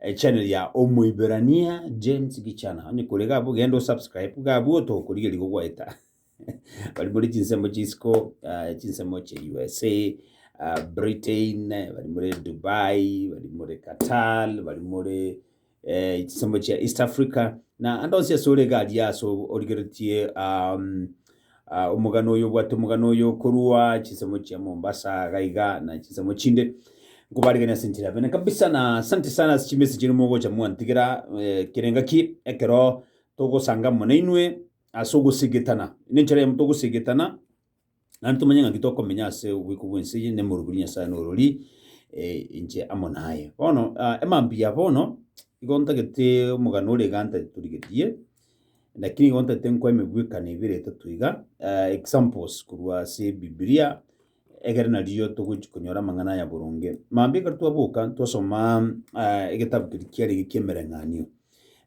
Echannel ya Omoiberania James Gichana. Onye korega abwo genda o subscribe iga abwo togokorigeria igo gwaeta. Bari muri chinsemo chisiko, ah, chinsemo che USA, ah, Britain, bari muri Dubai, bari muri Qatar, bari muri eh, chinsemo chia East Africa. Na ande onsi ase orega aria ase origeretie um, Ah, omogano oyo obwate omogano oyo korwa chinsemo chia Mombasa gaiga na chinsemo chinde nkobarigania ase enchera bene kabisa na asante sana ase chimesi chino mogocha mwantigera eh, kerenga ki ekero togosanga mo nainwe ase ogosegetana ine enchera yamo togosegetana naende tomanye ng'aki tokomenya ase oboiko bwense eye nemorokiri nyasaye norori eh, inche amo naye bono ah, emambia bono igo ntagete omogano ore iga ntatorigetie Naki nigo ntaete ngoa emegwekano ebere etato iga, eh, examples korwa ase Bibilia, egere nario togochi konyora amang'ana aya boronge. Mambia ekero twaboka twasoma ah, egetabu keria kiarenge ki'emereng'anio.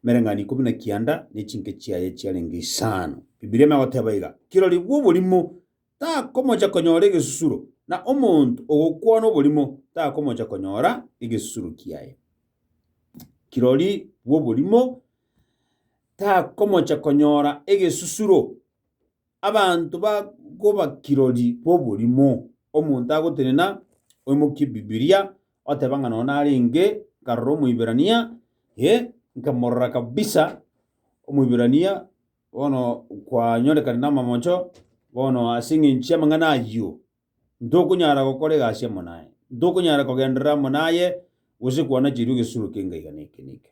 Emereng'anio ikomi na kianda, ne chinke chiaye chiarenge isano. Bibilia emegoteba iga, Kirorigwe oborimo takomocha konyora egesusuro, na omonto ogokwana oborimo takomocha konyora egesusuro kiaye. Kirori bw'oborimo takomocha konyora egesusuro. Abanto bagoba kirori bw'oborimo. Omonto agotenena oimokia Ebibilia, oteba ng'a nonya narenge nkarora Omoiberania, eh, nkamorora kabisa Omoiberania Bono kwanyorekane namamoncho, bono ase eng'encho y'amang'ana ayio, ntokonyara gokora egasi amo naye, ntokonyara kogenderera amo naye, gose kwanachirwa egesuro kenga iga na eke na eke.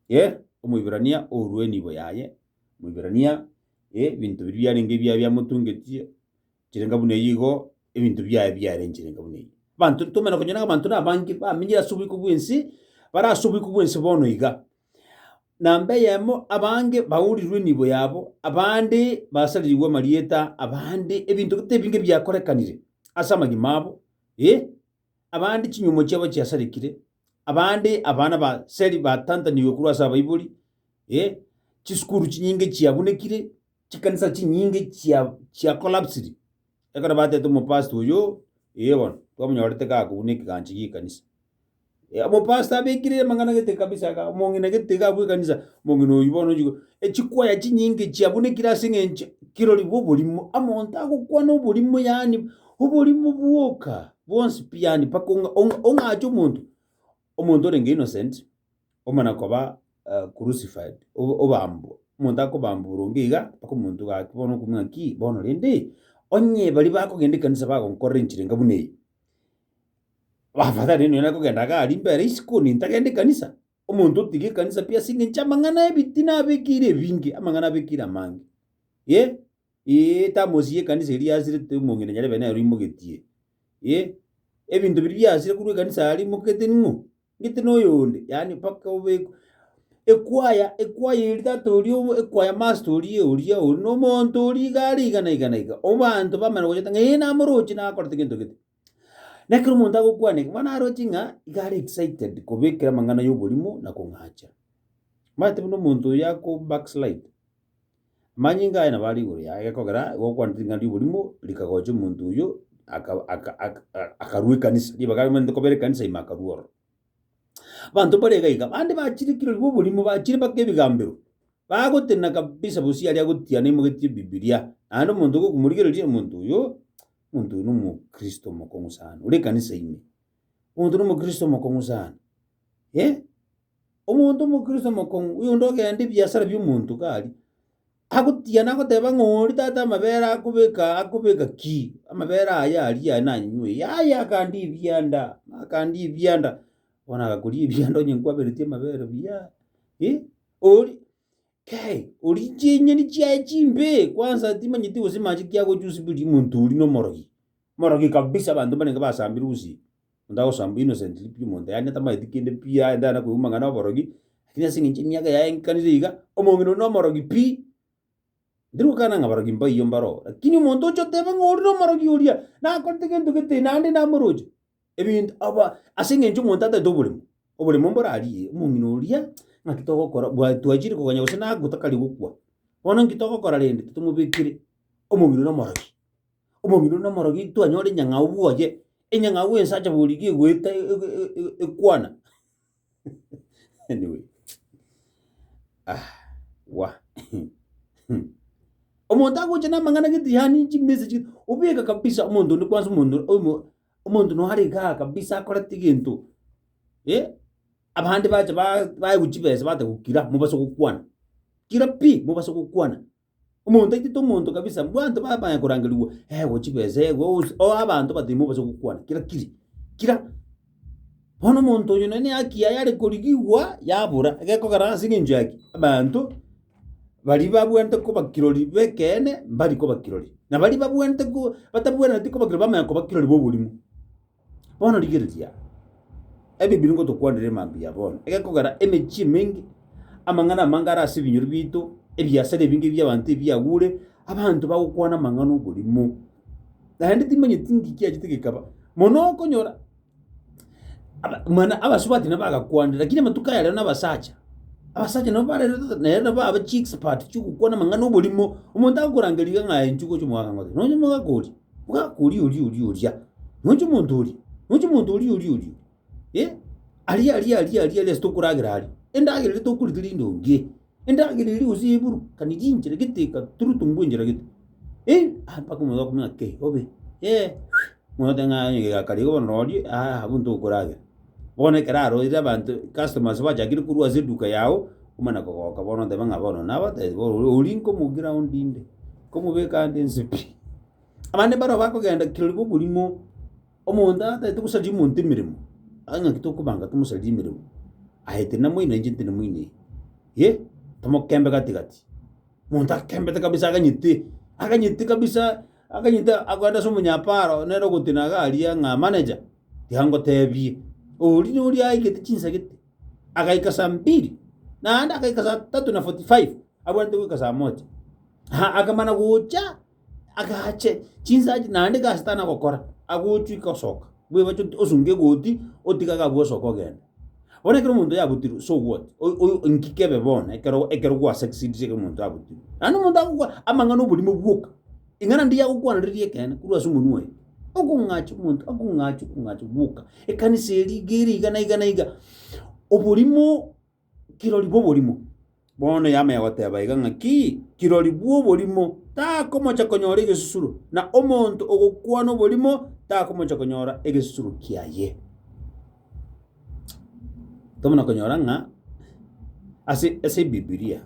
Eh, Omoiberania orue enibo yaye, Omoiberania, eh, ebinto biria biarenge ebiaye biamotungetie, chirenga buna eyio igo, ebinto biaye biare nchirenga buna eyio. Abanto, ntomanya na konyora ng'a abanto nabange bamenyire ase oboiko bw'ense, bare ase oboiko bw'ense bono iga. Namba eyemo abange baurirwe enibo yabo, abande basaririgwe amarieta, abande ebinto gete ebinge biakorekanire ase amagima abo, ee, abande chinyuomo chiabo chiasarekire, abande abana baseri batantanigwe korwa ase abaibori, ee, chisukuru chinyinge chiabunekire, chikanisa chinyinge chia chiakolapsiri, ekero batebete omopasta oyo, ee bono, twamonyorete kakobunekia ganchigi ekanisa. Omopastor abekire amang'ana gete kabisa iga, omong'ina gete iga abwo ekanisa, omong'ina oyio bono ochi ko- echikwaya chinyinge echi abunekire ase eng'encho kirorigwe oborimo, amo monto agokwana oborimo yaani oborimo bwoka bwonsi pi yaani mpaka ong'a ong'a ong'ache omonto, omonto orenge innocent omana koba crucified obo obambwa, omonto akobambwa ore onge iga mpaka omonto iga ake bono okomanya ng'a ki bono rende, onye baria bakogenda ekanisa bagonkorera enchera enga buna eye. Abafathari nigo nakogenda iga aria imbere isiko nintagenda ekanisa, omonto otiga ekanisa pi ase engencho y'amang'ana y'ebitina abekeire ebinge, amang'ana abekeire amange. Ye, ee, tamosi y'ekanisa eria yasire tomong'ina nyarebe nero imogetie. Ye, ebinto biria biasire korwa ekanisa aria imokete ning'o? Ng'ite noyo onde, yaani mpaka obekwe. Ekwaya, ekwaya eria tata oria obo, ekwaya master oria oria oria, na omonto oria iga are iga na iga na iga, abanto bamanya gocheta ng'a ee namoroche nakorete gento gete. Nekero omonto agokwana eke, bono aroche ng'a iga are excited kobekera amang'ana y'oborimo na kong'acha. Omanyete buna omonto oyo ako backslide, amanyinga aye nabo are igoro yaye, egekogera igo okwanete ring'ana ri'oborimo rikagocha omonto oyio aka- aka- aka akarua ekanisa, ribaga riamonto kobera ekanisa ime akarua ororo. Abanto mbare iga iga, bande bachire kirorigwa oborimo bachire mpaka ebigambero, bagotenena kabisa bosi aria agotiana aimogetie bibilia, naende omonto ogokumorigereria omonto oyo. Omonto oyo n'Omokristo omokong'u sana, ore ekanisa ime. Omonto n'Omokristo omokong'u sana. Eh? Omonto Omokristo omokong'u, oyonde ogenda ebiasara bi'omonto iga aria, agotiana agoteba ng'a oria tata amabere akobeka akobeka ki? Amabere aye aria aye nanywe, yaya akande ebianda, akande ebianda, bono agakoria ebianda onye nkwaberetie amabere buya, eh? Oria Kai, ori chinyeni chiaye chimbe kwansa timanyeti gose mache ki agochusi biri omonto oria nomorogi. Morogi kabisa abanto mbarenge basambire usi. Onde agosamba innocently pi omonto yaani atamanyeti kende pi aye onde akoigwa amang'ana oborogi, lakini ase eng'encho emiaka yaye engikanire iga, omong'ina oria nomorogi pi. Intwe togokana ng'a abarogi mbayio mbaro, lakini omonto oche oteba ng'a ore nomorogi oria, nakorete gento gete, naende namoroche. Ebinto aba ase engencho omonto atarete oboremu, oboremu mborarie omong'ina oria, ng'aki togokora bwa twachire koganya gose nago takari gokwa. Bono nki togokora rende? Totomobekire omong'ina oria omorogi. Omong'ina oria nomorogi twanyore enyang'au bwoye, enyang'au ensacha borigie egoeta e- e- e- ekwana. anyway ah wa omonto agocha namang'ana gete yaani chimessage gete obeka kabisa omonto onde kwanza omonto onde omo omonto noo are igaa kabisa akorete egento eh, abande bacha ba- baegwa chibesa batagokira mobase gokwana. Kira pi mobase gokwana. Omonto aitete omonto kabisa, mbwanto bamanye korangerigwa, ewo chibesa ewo onsi, oo abanto bato imoba ase ogokwana kira kiri, kira. Bono omonto oyo nonye ne haki yaye are korigigwa yabora, egekogera ase eng'encho ya ki? Abanto baria babwenerete koba kirori b'ekeene, mbari koba kirori, na baria babwenerete ko batabwenereti koba kirori bamanye koba kirori b'oborimo. Bono rigereria, Ebibiri ngotokwanere mambia bono, egekogera emechie emenge, amang'ana amange are ase ebinyoro biaito, ebiasara ebinge bi'abanto ebiagure, abanto bagokwana amang'ana ’oborimo, naende timanyeti ng'iki kiachete gekaba. Mono okonyora aba muna abasubati nabo bagakwanire, rakini amatuko aya rero na abasacha, abasacha nabo bare nere nabo abe chiexpert chi'ogokwana amang'ana ’oborimo, omonto agokorangeria iga ng'a inchuo gocha omogaka ng'oteba, nonya omogaka oria. Mwaka oria oria oria oria, nonya omonto oria, nonya omonto oria oria oria, eh, aria aria aria aria aria ase tokoragera aria, endagera eria tokoreta rende onge, endagera eria gose eburukani chinchera gete ekaturutu mbwe enchera gete, eh, ah mpaka omonto akominyoka kei obe, eh, omonto agote ng'a onye egaka riago bono rorio, aa abwo ntokoragera. Bono ekero aroire abanto customers bachakire korwa ase eduka yago, omana kogoka bono oteba ng'a bono nabatebi bono ore ori nko omoground inde, nkomobeka ande nse pi. Abande barobwo bakogenda kirorigwe oborimo, omonto atagete gosaria omonto emeremo, aye ng'aki tokobanga tomosarie emeremo, aye tinamoino inche tinamoino eye, ye, tomokembe gati gati. Monto akembete kabisa aganyete, aganyete kabisa, aganyete akoenda ase omonyaparo nere ogotena iga aria ng'a manager. Tiga ngoteebie, oria noria aigete chinsegete, agaika saa mbiri, naende agaika saa tatu na forty five, abwenerete goika saa moja. Ha, akamana gocha, agache chinsa echi naende egasi tana gokora, agochwe gosoka, bwebache ot- osunge egoti, otige agabue osoka ogende. Bono ekero omonto yabutirwe, so what? Oy- oy- inki kebe bono ekero ekero gwa succeedire ekero omonto abutirwe? Naende omonto agokora amang'ana oborimo bwoka, Ing'ana ndiye agokwanaririe ekeene korwa ase omonwa oye. Okong'acha omonto, akong'acha, okong'acha, boka. Ekanisa eri iga ere iga na iga na iga. Oborimo, kirori bw'oborimo. Bono yamaya goteba iga ng'a ki, kirori bw'oborimo takomocha konyora egesusuro, na omonto ogokwana oborimo takomocha konyora egesusuro kiaye. Tomana konyora ng'a ase ase Ebibilia,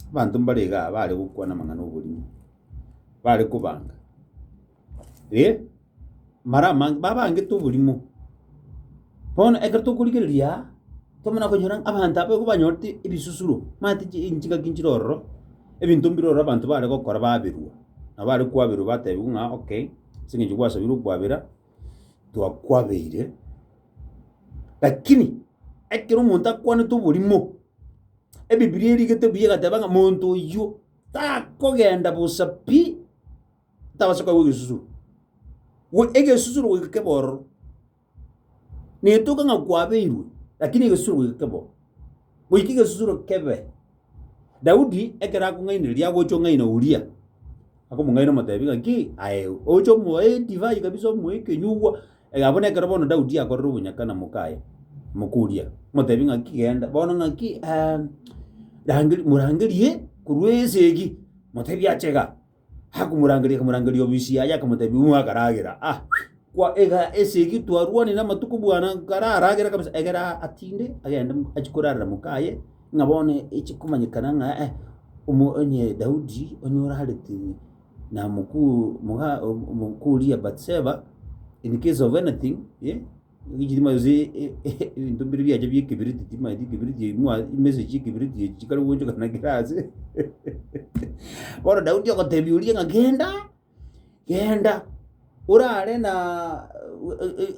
abanto mbare iga bare gokwana amang'ana 'oborimo. bare kobanga, eh, mara amange babangete oborimo. Bono ekero tokorigereria aa, twamana konyora ng'a abanto abwo banyorete ebisusuro, manyete chi chingaki nchire ororo, ebinto mbire ororo abanto bare gokora baberwa, nabo bare kwaberwa batebiwa ng'a okay, ase eng'encho gwasabire okwabera, twakwabeire. Lakini, ekero omonto akwanete oborimo, ebibiria erigete buya egateba ng'a monto oyio. takogenda bosa pi, tabasa koegwa egesusuro. Gwe egesusuro goika kebororo, netoka ng'a kwabeirwe, lakini egesusuro goika kebororo, goika egesusuro kebe. Daudi ekero akong'ainereria agocha ong'aina Uria, akomong'aina omotebi ng'a ki, aye oche omoe edivai kabisa omoe ekenyugwa. Aya abwo nekero bono Daudi akorire obonyaka na mokaye, mokuria, motebi ng'aki genda, bono ng'aki eh, rangeri- morangerie korwa esegi, motebi ache iga. Akomorangeria akomorangeria obisia aye akomotebi buna akaragera ah, kwa iga esegi twarwani namatuko bwana nkara aragere kabisa egera atinde agende mo- achie korarera mokaye, ng'a bono echi komanyekana ng'a eh, omo- onye Daudi onye orareti. na mukuru muga mukuria Bathsheba in case of anything eh ebichiri mayose ebinto mbiri biacha bie kibiriti timaeti kibiriti imwa imese chi kibiriti echi chikare gwochoka na kera ase bono Daudi ogotebia oria ng'a genda genda orare na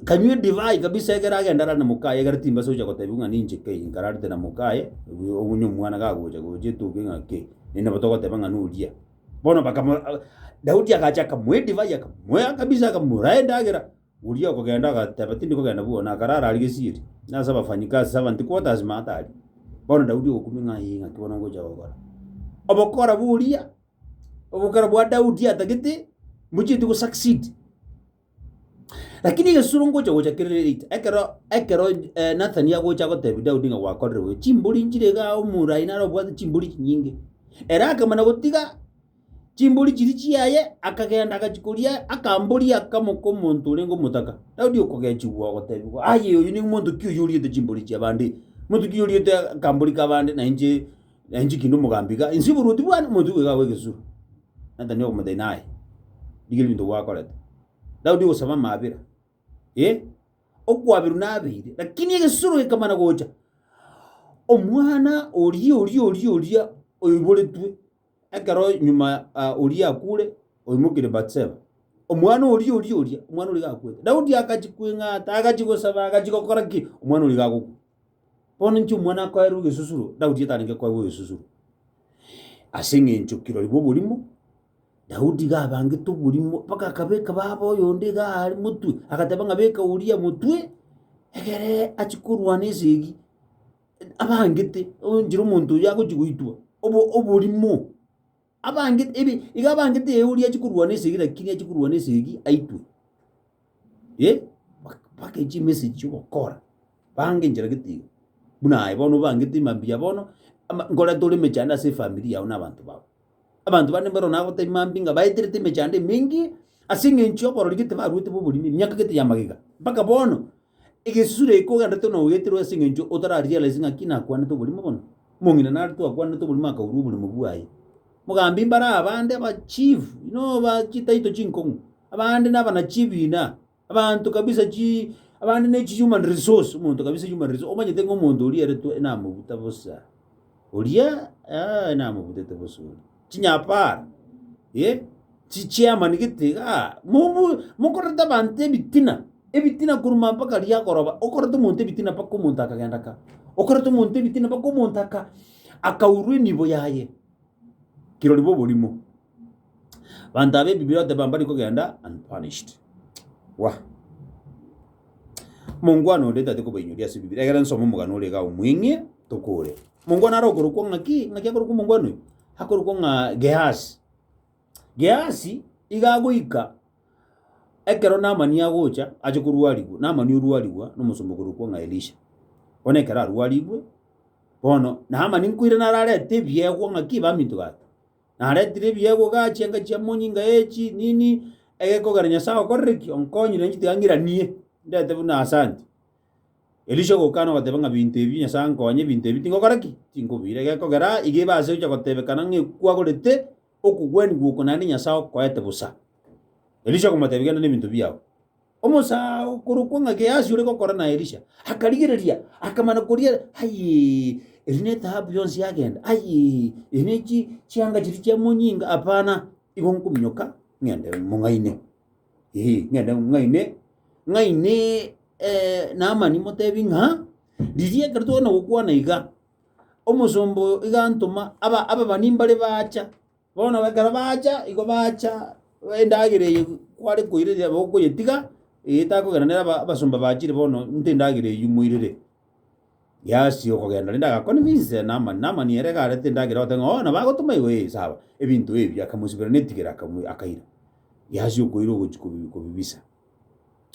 kanywe edivai kabisa ekero agenda arare na mokaye ekero timbasa gocha kotebiwa ng'a ninche kei nkararete na mokaye obu- obunye omwana gagocha gocha etoke ng'a kei naende nabo togoteba ng'a noria. Bono bakamo a- Daudi agacha akamwa edivai akamoya kabisa akamoraa endagera oria okogenda agateba tindi kogenda bono akarara aria gesieri na ase abafanyikazi seventy quarters maate aria bono Daudi ogokumia ng'a ee ng'aki bono ngocha gokora obokora boria obokora bwa Daudi atagete mbocheti go succeed. Rakini egesusuro ngocha gocha kere Leita, ekero ekero Nathani agocha agotebia Daudi ng'a gwakorire bobe, chimbori nchire iga aa omoraai nare obwate chimbori chinyinge. Ere akamana gotiga chimbori chiria chiaye, akagenda agachikoria akamboria akamoka omonto orenge omotaka. Daudi okogechigwa ogotebiwa, aye oyo nigo monto ki oyo oriete chimbori chi'abande? Monto ki oyo oriete akambori k'abande na inche? Na inche kinde omogambi iga, inse oboruoti bwane omonto oyo igao egesuro, Nathani okomotebi naye, rigereria ebinto gwakorete. Daudi ogosaba amaabera, ee, okwaberwa nabeire, lakini egesuro gekamana gocha, omwana oria oria oria oria oiboretwe ekero nyuma ah oria akure, oimokire Bathseba, omwana oria oria oria, omwana oria iga akwete. Daudi agachia kweng'ata, agachia gosaba, agachia gokora ki, omwana oria iga agokwa. Bono inche omwana akoerwa egesusuro, Daudi atarenge koegwa egesusuro, ase eng'encho kirorigwe oborimo, Daudi iga abangete oborimo mpaka akabeka baba oyonde iga are motwe, agateba ng'a beka Uria motwe, egere achie korwana esegi, abangete, oe inchera omonto oyo agochia goitwa obo oborimo. Abange ebi, iga abange teuu riachia korwa nesegi lakini achia korwa nesegi aitwe. Eh, bak- bake chimessage chi'ogokora, bange enchera gete iga. Buna aye bono obangete mambia bono, ama- nkorente ore emechando ase efamiri yao na abanto bao. Abanto bande mbaro nagotebia mambia ng'a baeterete emechando emenge, ase eng'encho y'oborori gete baruete b'oborimo emiaka gete ya magega, mpaka bono. Egesusuro eke ogenderete buna ogeterwe ase engencho otara realize ng'aki nakwanete oborimo bono. Omong'ina nare twakwanete oborimo akaurwa oborimo bwaye. Mogambi mbare abande aba chief inoo ba chi title chinkong'u, abande na abana chief ina, abanto kabisa chi abande ne chi human resource omonto kabisa human resource omanyete ng'a omonto oria ere to na amaguta bosa. oria ah, namobutete bosuri chinyapara eh, chichiamani gete iga ah, mobu- mokoreta abanto ebitina ebitina koruma mpaka riakoroba okoreta omonto ebitina mpaka omonto akagenda ka okoreta omonto ebitina mpaka omonto aka akaurwa enibo yaye kirori boborimo Abanto aba Ebibilia bateba mbari kogenda unpunished. Wah. Omongwana onde tari kobainyoria ase Ebibilia, egere nsome omogano ore iga omweng'e, tokore. Omongwana are okorokwa ng'aki, ng'aki akorokwa omongwana oyo? Akorokwa ng'a Gehasi. Gehasi iga agoika, ekero Naamani agocha, ache korwarigwa, Naamani orwarigwa nomosomba okorokwa ng'a Elisha. Bono ekero arwarigwe, bono Naamani nkoirana ararete ebiegwa ng'aki, baminto baye. Naretire ebiegwa ogachia ngachia monyinga ye chinini, egekogera Nyasae agokorere ki? Onkonyire ninche tiga ng'iranie, ndete buna Asante. Elisha ogokana ogoteba ng'a binto ebi Nyasae ankonye, binto ebi tingokora ki? Tinkobiira. Egekogera iga ibe ase gochia gotebekana ng'a ekwagorete okogwenia gwoko naende Nyasae okoete bosa. Elisha okomotebia, Genda nebinto biao. Omosaaakorokwo ng'a Gehasi ore gokora na Elisha, akarigereria, akamana koria ayiiii, eri netaabu yonsi yagenda, ayiiii, eyi ne chi chianga chiria chia monyinga, hapana, igo nkominyoka ng'ende mong'aine, eeh, ng'ende mong'aine, ng'aine Naamani motebi ng'a, riria ekero tokogenda gokwana iga, omosomba oyo iga antoma aba- ababani mbare baacha. Bono ekero baacha, igo baacha endagera eye kware koirera nabo okoyetiga, eye etakogenda nere aba- abasomba bachire bono nte endagera eywo moirere. Yasi okogenda rende agaconvince Naamani, Naamani ere iga arete endagera ogoteeba ng'a oo nabo agotoma igo ee sawa, ebinto ebi, akamosibera na etigere akamu akaira. Yasi okoira ogochia kobi kobibisa,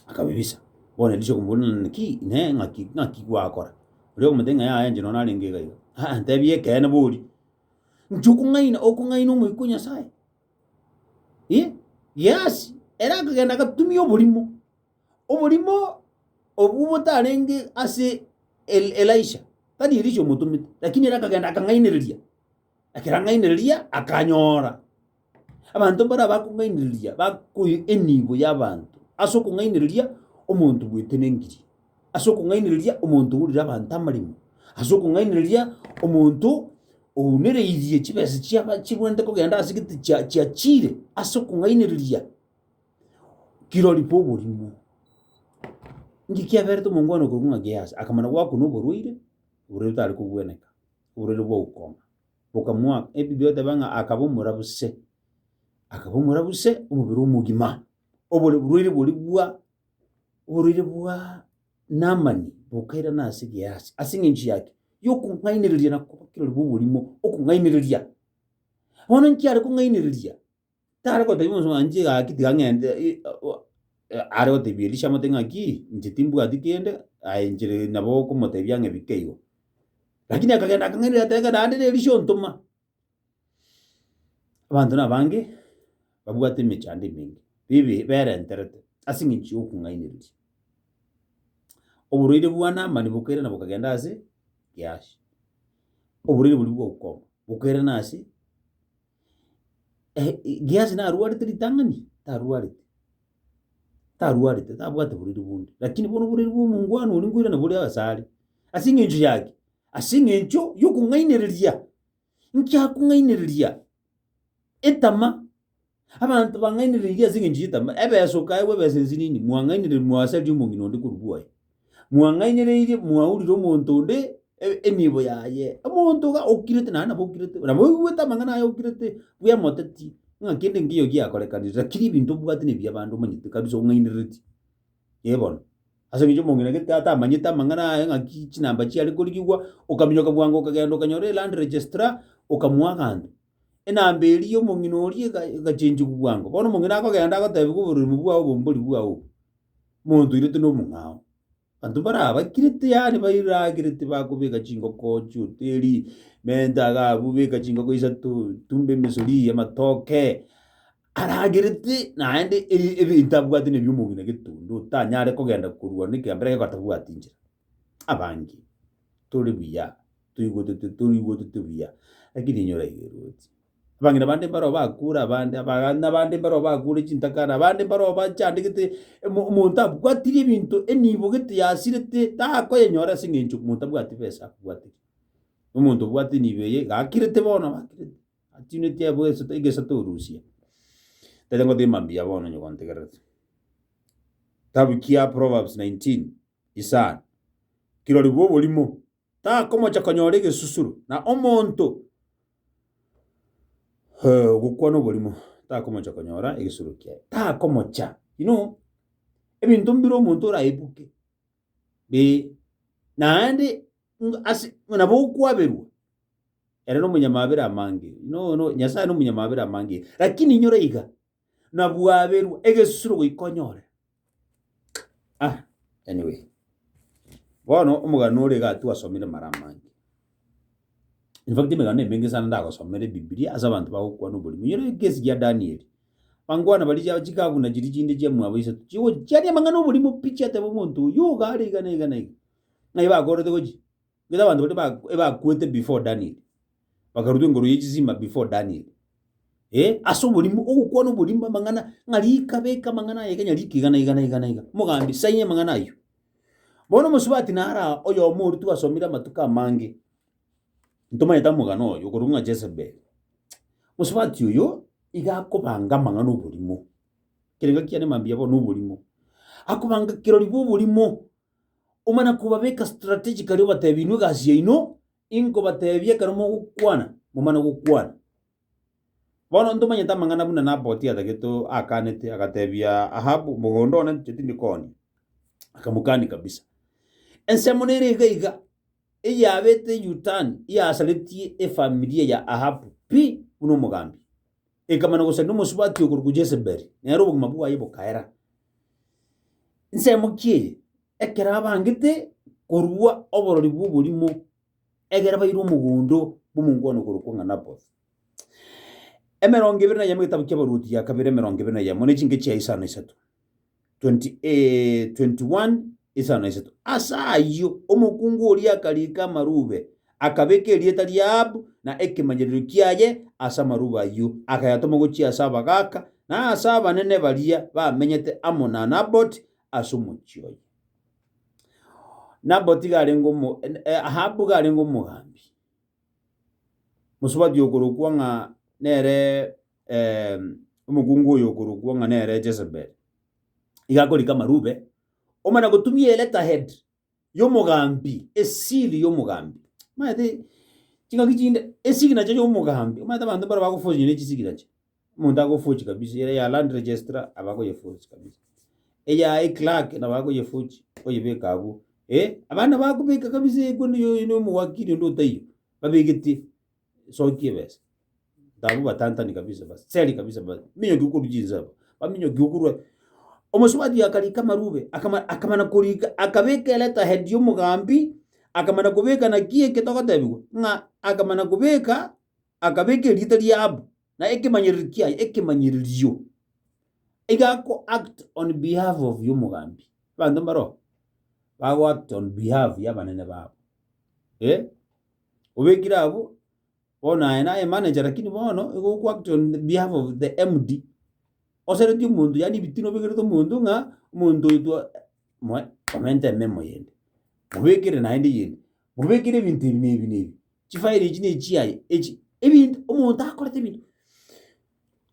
akabibisa, bono Elisha okomoboria ng'a naki inee ng'aki ng'aki gwakora? Oria okomotebia ng'a yaya inche nonye narenge iga iga, aa ntebi ekeene boria, Inche okong'aina okong'aina omoika o Nyasae? Ih, yes, ere akagenda agatumia oborimo, oborimo obwo botarenge ase El- Elisha, tari Elisha omotomete, lakini ere akagenda akang'ainereria, ekero ang'ainereria akanyora. Abanto mbaro abakong'ainereria bakoe enibo y'abanto ase okong'ainereria omonto bw'ete nengiri, ase okong'ainereria omonto ourire abanto amaremo, ase okong'ainereria omonto ounereirie chibesa chiaba chibwenerete kogenda ase egete chia chiachiire ase okong'ainereria kirori kw'oborimo. Nki kiaberete omongwana okorokwa ng'a geyasi? Akamanya gwakorwa noborwaire, oborwaire botari kogweneka, oborwaire bwa ukoma. bokamoaka. Ebibio oteba ng'a akaba omorabu se, akaba omorabu se, omobere omogima. Obore borwaire bori bwa, oborwaire bwa Naamani bokairana ase Gehazi, ase eng'encho yake y'okong'ainereria na koba kirori bw'oborimo, okong'ainereria. Bono nkiare kong'ainereria, Tare gotebi bonsi ng'a nchie gaki tiga ng'ente i- o- o- e- are gotebi Elisha amote ng'aki, inche timbwati kende, aye inche ree nabo okomotebia ang'e bika igo. Lakini akagenda akang'erera agateba ng'a naende na Elisha ontoma. Abanto na abange, babwate emechando emenge, bibi berenterete ase eng'encho y'okong'ainereria. Oborwaire bwa Naamani bokairana bokagenda ase Gehazi, oborwaire boria bwa ukoma bokairana ase. Gehazi narwarete ritang'ani? Tarwarete, tarwarete, tabwate boriri bonde, lakini bono oboriri bwa omongwana oria nkoirana bore ase are. Ase eng'encho yaki? Ase eng'encho y'okong'ainereria, nkiakong'ainereria etama, abanto bang'ainereirie ase eng'encho y'etama, ebesa okaegwa ebesa ensinini, mwang'ainereiri mwasarire omong'ina onde korwa bwoye. mwang'ainereirie mwaurire omonto onde e- enibo yaye, omonto iga okirete naye nabo okirete, nabo oigwete amang'ana aye okirete, bwemoteti ng'a kende nkeiyo giakorekanire, rakiri ebinto obwate nebiya bande omanyete kabisa ong'ainereretie. Ee bono, ase eng'encho omong'ina gete atamanyete amang'ana aye ng'aki chinamba chiare korigigwa, okaminyoka bwango okagenda okanyora eland registrar, okamoa aganto, enamba eria y'omong'ina oria ega- egachenchigwa bwango, bono omong'ina akogenda agotebiwa oboremu bwao obo mbori bwao obo. Monto oirete nomong'ao. Abanto barabakirete yaani bairagerete bakobeka chingoko chioteri menta agabu beka chingoko isato tumbe emesori amatoke aragerete naende eri ebinto abwate nebiomogina getundo otanyare kogenda korwa nekeambera geko atabwati inchera. abange tore buya, toigotete toigotete buya, lakini onye oraigerweti. Abange nabande mbaroo bakure abande abaga nabande mbaroo bakure chintaka na abande mbaroo bachandegete omo omonto abwatirie ebinto enibo gete yasirete takoyenyora ase eng'encho omonto abwati besa abwatire. Omonto obwate enibo eye iga akirete bono akirete, achinetie abwo egesato egesato orusia, tari goteba mambia bono onye gontegererete. Kitabu kia Proverbs nineteen. Isaya, kirori bw'oborimo, takomocha konyora egesusuro, na omonto ogokwana oborimo takomocha konyora egesusuro kiaye. Takomocha. You know, ebinto mbire omonto oraebuke. Ee, naende ng- ase nabo okwaberwa ere nomonyamabera amange. No, no, Nyasaye nomonyamabera amange. Lakini inyora iga. na bwaberwa egesusuro goika onyore. Ah, anyway. Bono omogani ore iga twasomire mara amange. In fact, emegano emenge sana ndagosomera Ebibilia ase abanto bagokwana oborimo. Nyore egesi gia Danieli. Bangwana bari chia chikabu buna chiri chinde chia mwabo isato. Chigochiania amang'ana oborimo pi chiateba omonto oyo iga are iga na iga na iga. Naye bakorete gochi. Ng'aki abanto baria ba- ebakwete before Daniel, bakarutwa engoro ye chisima before Daniel, eh, ase oborimo, ogokwana oborimo amang'ana, ng'a rika beka amang'ana aye ekenya rika iga na iga na iga na iga, mogambi sainia amang'ana ayio. Bono omosubati naro aa oyomo oria twasomire amatuko amange, ntomanyete omogano oyo okorokwa ng'a Jezebel, mosubati oyo iga akobanga amang'ana oborimo, kerengakia ane mambia bono oborimo, akobanga kirori bwa oborimo. Omana kobabeka strategically obatebi inwe egasi yaino inkobatebia ekero mogokwana momana gokwana. Bono ntomanyete amang'ana buna Naboti atagete o- akanete agatebia Ahabu mogondo one inche tindikooni, akamokani kabisa. Ensemo nere iga iga. eyabete Yutani easaretie efamilia ya Ahabu pi buna omogambi, ekamana gosenda omosubati okorokwa Jezebeli, nere obogima bwaye bokaera. Ensemo ki eye? Ekero abangete korua oborori bw'oborimo, egere baire omogondo bw'omongwana okorokwa ng'a Naboth. Emerongo ebere na yemo egetabu ki'Abaruoti ya Kabere emerongo ebere na yemo ne chinke chia isano isato. 20 eh, 21 isano na isato ase ayio omokungu oria akariika amarube akabeka erieta ria Ahabu na ekemanyererio kiaye ase amarube ayio akayatoma gochia ase abagaaka na ase abanene baria bamenyete amo na Naboti ase omochie oye Naboti garenge omo eh, Ahabu garenge omogambi Mosubati okorokwa ng'a nere omokungu oyo okorokwa ng'a nere Jezebel, iga akorika amarube, omana gotumia eletterhead y'omogambi, esili y'omogambi. Omanyete ching'aki chinde, esignature y'omogambi, omanyete abanto mbaro bagofosinye ne chisignachire. omonto agofuchi kabisa ere ya land registrar abagoyefuchi kabisa eya eclerk nabo agoyefuchi oyebeka abwo eh abana bakobeka kabisa ekwenu yo oyio nomowakiri onde otaiyo babegetie soki ebesa abwo batantani kabisa baseri kabisa ba- minyoki okorwa chinsemo baminyoki okorwa omosubati akarika amarube akama akamana korika akabeka eleta head ya omogambi akamana kobeka naki eke togotebiwa ng'a akamana kobeka akabeka erieta riabo. Na ekemanyererio kiaye, ekemanyererio, iga ako act on behalf of y'omogambi. Abanto mbaro bago act on behalf y'abanene babo. Eh? Obekire abwo, bono aye naye manager lakini bono igo oko act on the behalf of the MD. Osaretie omonto yani ebitino obekerete omonto ng'a omonto oyo twa mwa- komenta ememo yende. Mobekere naende yende. Mobekere ebinto ebi na ebi na ebi. Chifaini echi nechiaye echi ebinto omonto akorete ebinto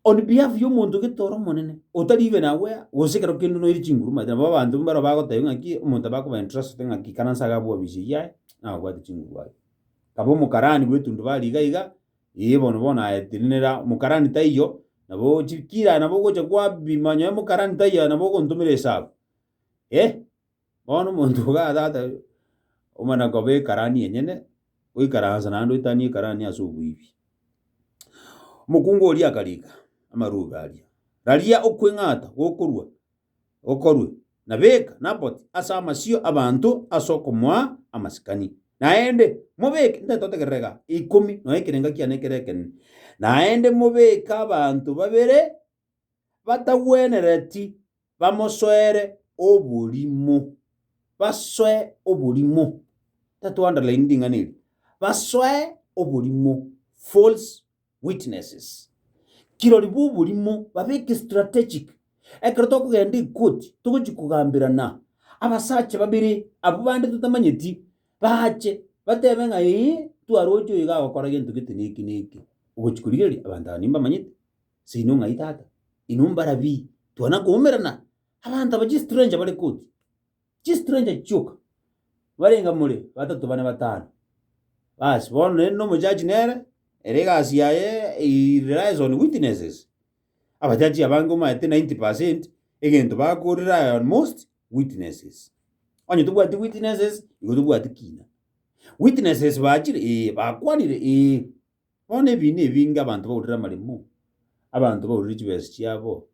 on behalf y'omonto gete ore omonene otari iga naye bwea gose ekero kende noiri chinguru omanyete nabo abanto mbaro bagoteba ng'aki omonto abakoba entrusted ng'aki ikaransa iga abwo ofisi eyio aye naye obwate chinguru aye. Kaba omokarani bw'etundubari iga iga eh bono bono aye tenenera omokarani taiyo nabo ochi kira nabo ogocha kwabima nonye omokarani taiyo nabo ogontomera esabu eh. Bono omonto ogo atata omana koba ekarani enyene, goikaransa naende oetanie ekarani ase oboibi. Omokungu oria akarika amaruga aria, Raria okweng'ata gokorwa gokorwe, na beka Naboti ase amasio 'abanto ase okomoa amasikani. Naende mobeke, intari totegerera iga, ikomi, noe ekerenga kiane ekere ekenene, naende mobeke abanto babere batagwenereti bamosoere oborimo, basoe oborimo, tatu underline ring'ana eri, basoe oborimo, false witnesses. Kirori bw'oborimo babeke strategic, ekero tokogenda ekoti togochia kogamberana, abasacha babere abwo bande totamanyeti bache batebe ng'a ee, twaroche oyo iga agokora gento gete na eke na eke, ogochia korigereria abanto aba nimbamanyete. Seino ng'ai tata, inwe mbarabi, twana koumerana. Abanto aba chistranger bare koti, chistranger chioka, barenga more batato bane batano. Basi bono nere nomojaji nere, ere egasi yaye he relies on witnesses. Abajaji abange omaete 90 percent egento bako rely on most witnesses. Onye tobwati witnesses, igo tobwati kina. Witnesses bachire, ee, bakwanire, ee. Bono ebiina ebinge abanto baurire amaremo, abanto baurire chibeso chiabo,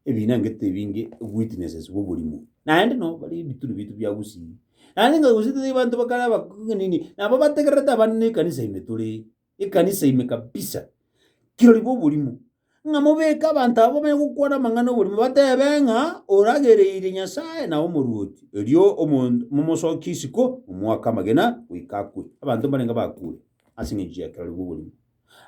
ebiina ngete ebinge witnesses bw'oborimo, naende nabo bare ebituri biaito bia gusii. Naende ng'a gose tete abanto bakare aba nini, nabo bategererete abande na ekanisa ime tore, ekanisa ime kabisa, kirori bw'oborimo. ng'a mobeke abanto abwo bamenye gokwana amang'ana 'oborimo, batebe ng'a oragereire Nyasae na omorwoti, erio omonto momosokie isiko, momoake amagena goika akwe. Abanto mbarenge bakure ase engencho y'ekerore bw'oborimo.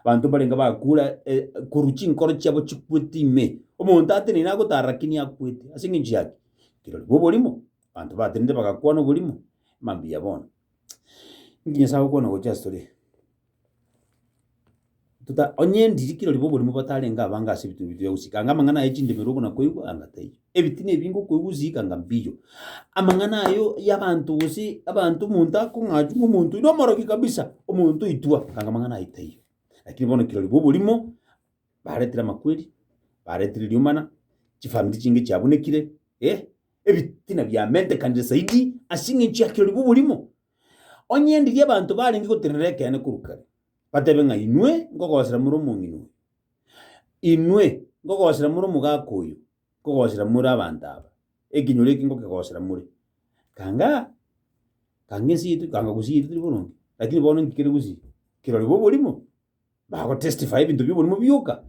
Abanto mbarenge bakure eh, korwa chinkoro chiabo chikwete ime. Omonto ateneine agotaara lakini akwete. Ase engencho yaki? Ekerore bw'oborimo. Abanto batenenete bagakwana oborimo. Mambia bono. Inki Nyasae agokwana gochia ase tore? Tota onye endirikiro ribe oborimo botarenge abange ase ebitunwa biaito bia gosika, anga amang'ana aye chindemero okona koigwa anga taiyo. Ebitina ebi ngokoigwa gosika anga mbiyo. Amang'ana ayo y'abanto gose abanto omonto akong'achu ng'a omonto oino omorogi kabisa, omonto oitwa, anga amang'ana aye taiyo. Lakini bono kero ribe oborimo, baretire amakweri, baretire riomana, chifamiri chinge chiabunekire, eh, ebitina biamentekanire zaidi as'eng'encho ya kero ribe oborimo. Onye endirie abanto barenge gotenena ekeene korwa kare, batebe ng'a inwe nkogosera more omong'ina oyo, inwe nkogosera more omogaka oyo, nkogosera more abanto aba, ekenyoro eke ngokegosera more. Ganga, ganga ense yaito ganga gusii yaito teri boronge, lakini bono inki kere gusii? Kerorigwe oborimo, bagotestify ebinto bi'oborimo bioka.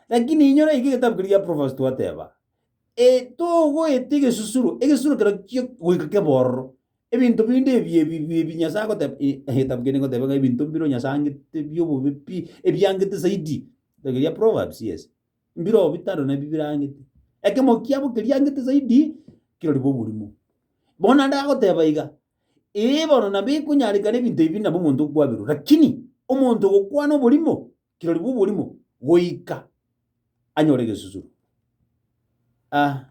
Lakini inyora eke egetabu keria gia Proverbs twateba, e togoeta egesusuro, egesusuro kerokio goika kebororo, Ebinto binde ebi ebibe ebi Nyasae agoteba, eh, egetabu kende ngoteba ng'a ebinto mbiro Nyasae angete biobobe pi, ebiangete zaidi, getabu keria Proverbs, yes, mbiroo bitano nabio birangete. Ekemo kiabo keriangete zaidi, kirori boborimo. Bono naende agoteba iga, eeh bono nabo ekonyarekana ebinto ebi nabo omonto okwaberwa, rakini omonto ogokwana oborimo, kirori boborimo, goika anyore egesusuro, ah.